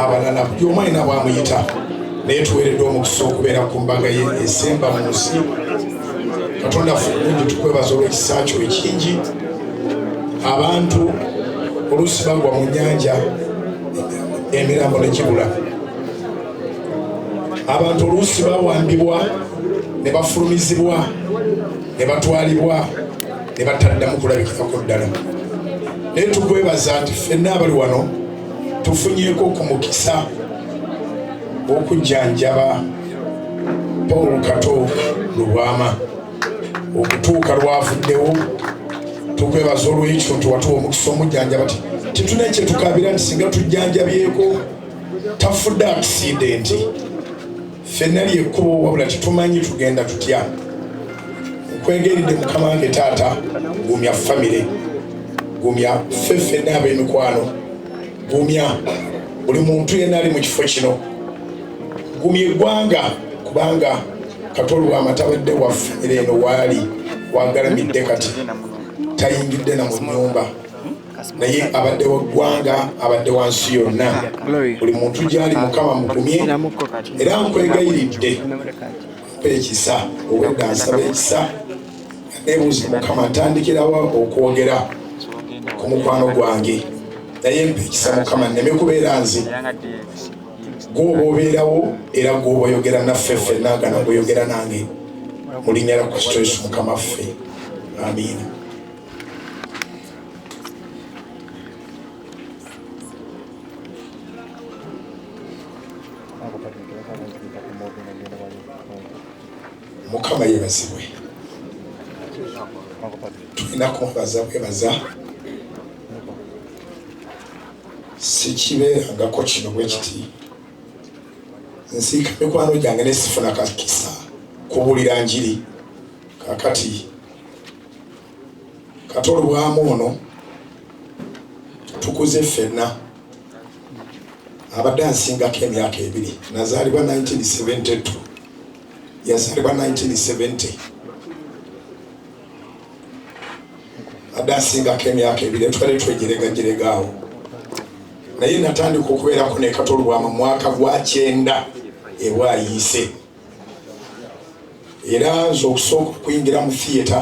abalala buli omu alina bwamuyita naye tuweeredde omukisa okubeera ku mbaga ye esemba mu nsi katonda fulungi tukwebaza olw'ekisa kyo ekingi abantu oluusi bagwa mu nyanja emirambo negibula abantu oluusi bawambibwa ne bafulumizibwa ne batwalibwa ne bataddamu kulabikirako ddala naye tukwebaza nti fenna abali wano tufunyeko ku mukisa okujjanjaba paul kato lubwama okutuuka lwavuddewo tukwebaza olwekyo nti watuwa omukisa omujjanjaba ti tetuna kyetukabira nti singa tujjanjabyeko tafudde akisidenti ffenna lyekkubo wabula tetumanyi tugenda tutya nkwegeridde mukama wange taata gumya famire gumya ffe ffenna ab'emikwano gumya buli muntu yenna ali mu kifo kino gumya eggwanga kubanga katoli wamatabadde wa famire eno waali wagalamidde kati tayingidde na mu nyumba naye abadde wa ggwanga abadde wa nsi yonna buli muntu gyali mukama mugumye era nkwegayiridde mpa ekisa obwedda nsaba ekisa nebuuzi mukama ntandikirawa okwogera ku mukwano gwange naye mpa ekisa mukama nneme kubeera nze gwoba obeerawo era gwoba oyogera naffe ffe nagana gwoyogera nange mulinyala kristo yesu mukama ffe amiina mukama yebazibwe tulina kumwebaza bwebaza sikibeerangako kino bwe kiti nsiika mikwano gyange nesifuna kakisa kubulira njiri kakati Kato Lubwama ono tukuze ffenna abadde ansingako emyaka ebiri nazaalibwa 1972 yazaalibwa 1970 adde asingako emyaka ebiri twali twejeregajeregaawo naye natandika okubeerako nekatolubwama mwaka gwa kyenda ebwayiise era nze okusooka okuyingira mu theatre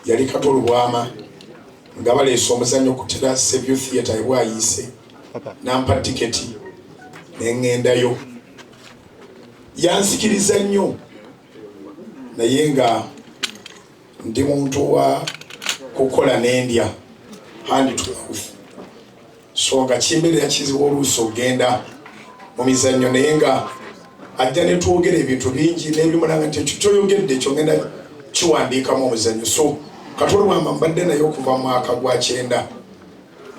yali kato lubwama nga baleese omuzannyo ku tera sevio theatre ebwayiise nampa tiketi nengendayo yansikiriza nnyo naye nga ndi muntu wa kukola nendya handi tuauf so nga kimbeerera kizibu oluusi okugenda mu mizannyo naye nga ajja ne twogera ebintu bingi n'ebimulanga nti ekyo kyoyogedde ekyo ngenda kiwandiikamu omuzannyo so katolwama mbadde naye okuva mu mwaka gwa kyenda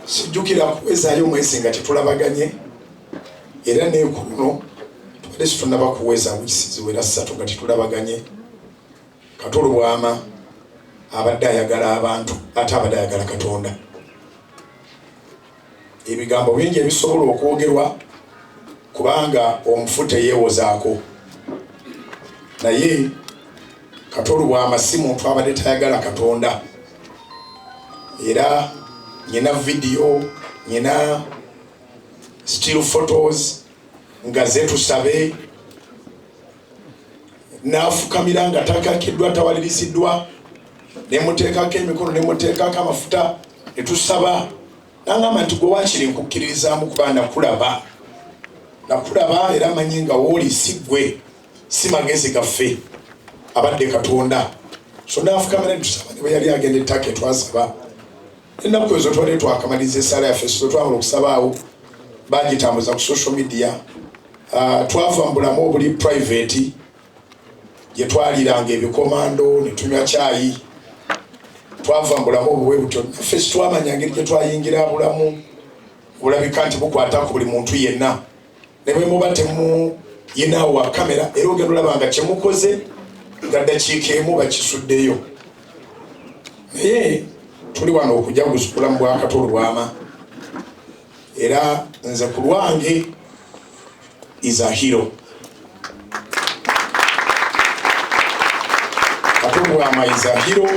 sijjukira kuwezaayo omwezi nga tetulabaganye era neekuno tubadde situnaba kuweza wisiziwera ssatu nga tetulabaganye Kato Lubwama abadde ayagala abantu ate abadde ayagala Katonda. Ebigambo bingi ebisobola okwogerwa kubanga omufu teyeewozaako naye Kato Lubwama si muntu abadde tayagala Katonda era nyina vidiyo nyina still photos nga zetusabe n'afukamira nga takakiddwa tawaliriziddwa ne muteekako emikono ne muteekako amafuta ne tusaba nangamba nti gwe wakiri nkukkiririzaamu kuba nakulaba nakulaba era manyi nga wooli si gwe si magezi gaffe abadde katonda so n'afukamira ne tusaba ne bwe yali agenda ettaka etwasaba ennaku ezo twali twakamaliza esaala yaffe so twamala okusabaawo bagitambuza ku social media ah, twava mu bulamu obuli private gye twaliranga ebikomando ne tunywa kyayi twava mu bulamu obuwe butyo naffe sitwamanya ngeri gye twayingira bulamu bulabika nti bukwata ku buli muntu yenna ne bwe muba temuyinaawo wa kamera era ogenda olaba nga kye mukoze nga ddakiika emu bakisuddeyo naye tuli wano okujja kuzikula mu bwakato olwama era nze ku lwange is a hero katobwama is a hero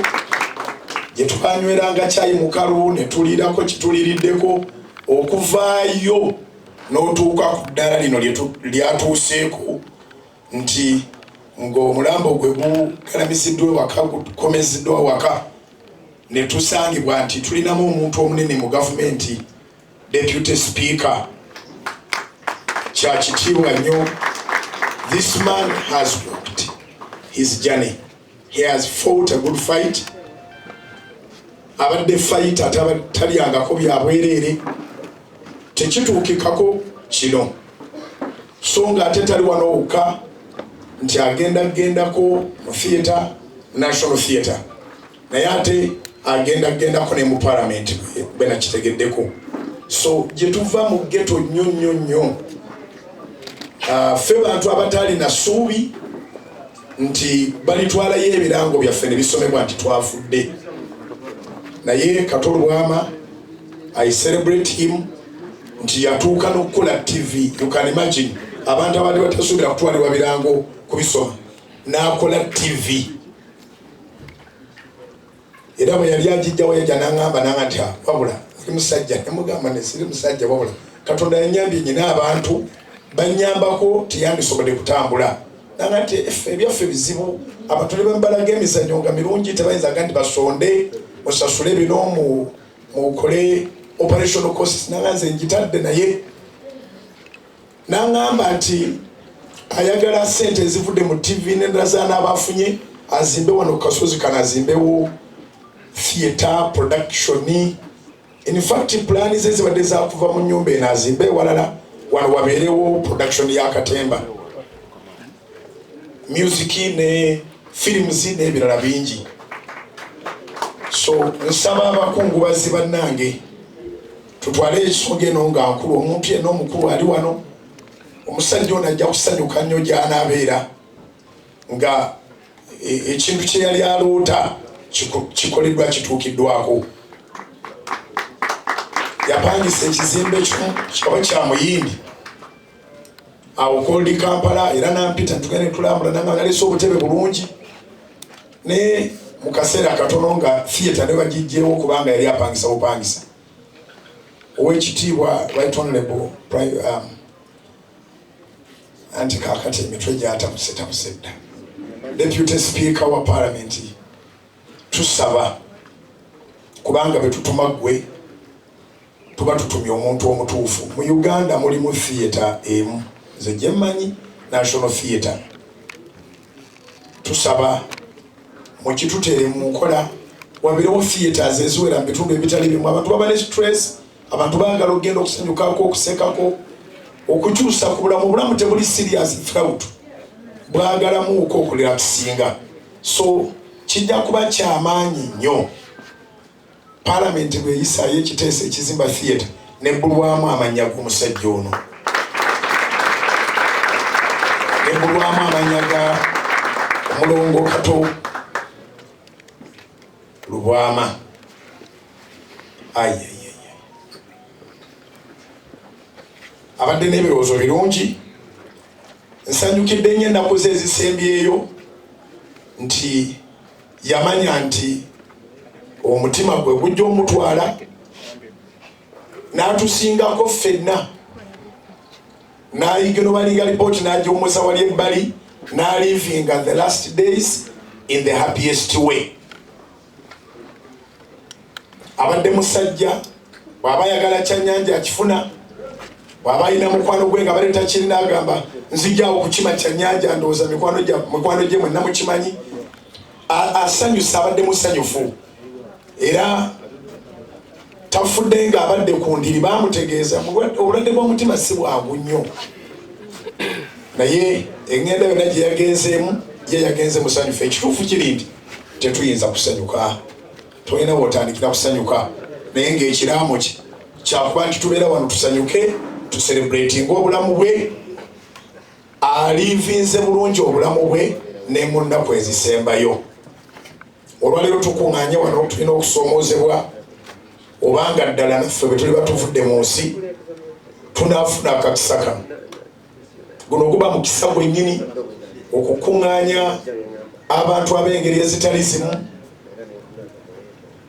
gye twanyweranga kyayi mukalu ne tuliirako kituliriddeko okuvaayo n'otuuka ku ddaala lino lyatuuseeko nti ng'omulambo gwe gukalamiziddwa ewaka gukomeziddwa waka ne tusangibwa nti tulinamu omuntu omunene mu gavumenti deputy speaker kyakitiibwa nnyo this man has walked his journey He has fought a good fight. Abadde fight atalyangako bya bwereere. Tekituukikako kino. So nga ate tali wano wokka nti agenda gendako mu theatre, National Theatre. Naye ate agenda gendako ne mu parliament bwe nakitegeddeko. So gye tuva mu ghetto nnyo nnyo nnyo. Uh, ffe bantu abataalina ssuubi nti balitwalayo ebirango byaffe ne bisomebwa nti twafudde naye kato lwama i celebrate him nti yatuuka n'okukola tv you can imagine abantu abadde batasuubira kutwalibwa birango kubisoma n'akola tv era bwe yali agijjawo yajja n'aŋŋamba nanga nti ah, wabula oli musajja nemugamba ne siri musajja wabula katonda yanyambye nyina abantu banyambako tiyandisobodde kutambula nanga nti efe ebyaffe bizibu abantu ne bambalaga emizanyo nga mirungi tebayinzaga nti basonde musasule bino mukole operation costs nanga nze njitadde naye N'aŋŋamba nti ayagala ssente ezivudde mu ttivi n'endala z'anaaba afunye azimbe wano ku kasozi kano azimbewo theatre production in fact pulaani ze zibadde zakuva mu nnyumba eno azimbe ewalala wano wabeerewo production ya katemba music ne films n'ebirala bingi so nsaba abakungubazi bannange tutwale ensonga eno nga nkulu omuntu yenna omukulu ali wano omusajja ono ajja kusanyuka nnyo gy'anaabeera nga e, ekintu kye yali aloota kikoleddwa kituukiddwako yapangisa ekizimbe kimu kikaba kya muyindi awo koldi kampala era nampita tugende tulambula nanga nalese obutebe bulungi naye mu kaseera katono nga theatre ne bagijjewo kubanga yali apangisa bupangisa owekitiibwa right honorable um, anti kakati emitwe gyatabusetabusa dda deputy speaker wa parliament tusaba kubanga betutuma gwe tuba tutumye omuntu omutuufu mu uganda mulimu theatre emu nze gyemmanyi national theatre tusaba mukitutere mu nkola wabeerewo theatres eziwera mu bitundu ebitali bimu abantu baba ne stress abantu bagala okugenda okusanyukako okusekako okukyusa ku bulamu obulamu tebuli serious throut bwagalamuuko okulira tusinga so kijja kuba kyamaanyi nnyo Palamenti bweyisaayo ekiteeso ekizimba theatre nebbulwamu amannya g'omusajja ono nebbulwamu amannya ga mulongo kato lubwama aye abadde n'ebirowoozo birungi nsanyukidde nyo ennaku ze ezisembyeyo nti yamanya nti omutima gwe gujja omutwala n'atusingako ffenna n'ayigino balinga lipooti n'agiwumuza wali ebbali n'alivinga the last days in the happiest way abadde musajja bwaba ayagala kyanyanja akifuna bwaba alina mukwano gwe nga baleeta kirina agamba nzijawo kukima kyanyanja ndowooza mikwano gye mwenna mukimanyi asanyusa abadde musanyufu era tafudde nga abadde ku ndiri bamutegeeza obulwadde bw'omutima si bwangu nnyo naye eŋenda yonna gye yagenzeemu ye yagenze musanyufu ekituufu kiri nti tetuyinza kusanyuka tolina wotandikira kusanyuka naye ngaekiraamo kye kyakuba nti tubeera wano tusanyuke tuserebratinga obulamu bwe aliivinze bulungi obulamu bwe ne mu nnaku ezisembayo olwaleero tukuŋŋanye wano tulina okusoomoozebwa obanga ddala naffe bwe tuliba tuvudde mu nsi tunaafuna akakisa kano guno guba mukisa gwennyini okukuŋŋaanya abantu ab'engeri ezitali zimu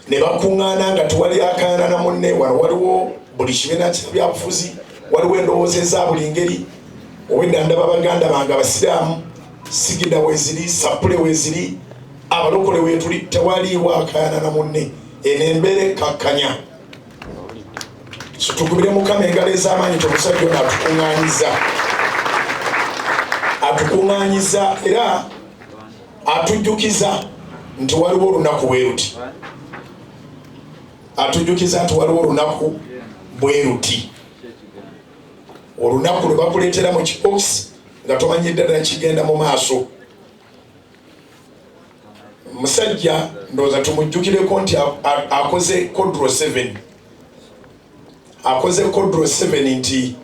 ne bakuŋŋaana nga tewali akaana na munne wano waliwo buli kibiina kyabyabufuzi waliwo endowooza eza buli ngeri owedda ndaba baganda bange abasiraamu sigida weziri sapule weziri abalokole wetuli tewaliiwo akaana na munne eno embeera ekkakkanya tukubire mukama engalo ez'amaanyi tomusajja ono atukuŋŋanyiza atukuŋŋanyiza era atujjukiza nti waliwo olunaku bwe luti atujjukiza nti waliwo olunaku bwe luti olunaku lwe bakuleetera mu kibokisi nga tomanyidde ddala kigenda mu maaso musajja ndowooza tumujjukireko nti akoze kodro 7 akoze kodro 7 nti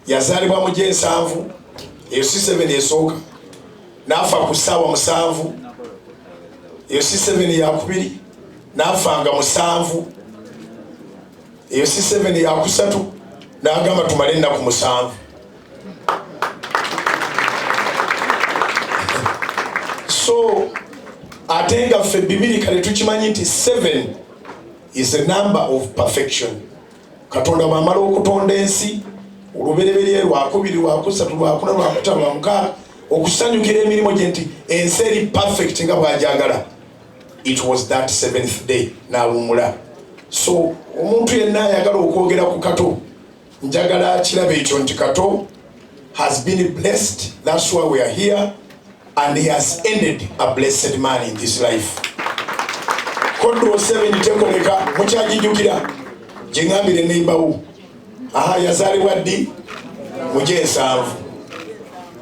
yazaalibwa mu gyensanvu eyo si 7 esooka naafa ku ssaawa musanvu eyo si 7 yakubiri naafa nga musanvu eyo si 7 yakusatu naagamba tumale ennaku musanvu so ate nga ffe bibiri kale tukimanyi nti 7 is a number of perfection katonda bwamala okutonda ensi olubereberye lwakubiri lwakusatu lwakuna lwakuta lwamukaaga okusanyukira emirimu gye nti ensi eri perfect nga bwajagala it was that seventh day nawumula so omuntu yenna ayagala okwogera ku kato njagala akirabe ekyo nti kato has been blessed that's why we are here and he has ended a blessed man in this life kodro 7 tekoleka mukyajijukira gyengambire nembawo aha yazaalibwa ddi mugye ensanvu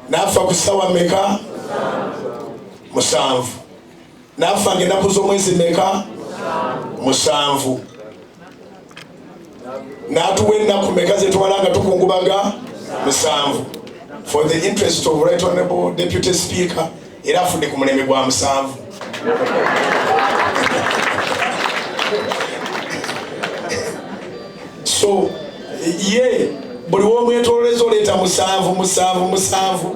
naafa ku ssawa meka musanvu naafa nga ennaku z'omwezi meka musanvu n'atuwa ennaku meka zetwala nga tukungubaga musanvu for the interest of right honorable deputy speaker era afudde ku mulembe gwa musanvu so ye buli womwetololeza oleeta musanvu musanvu musanvu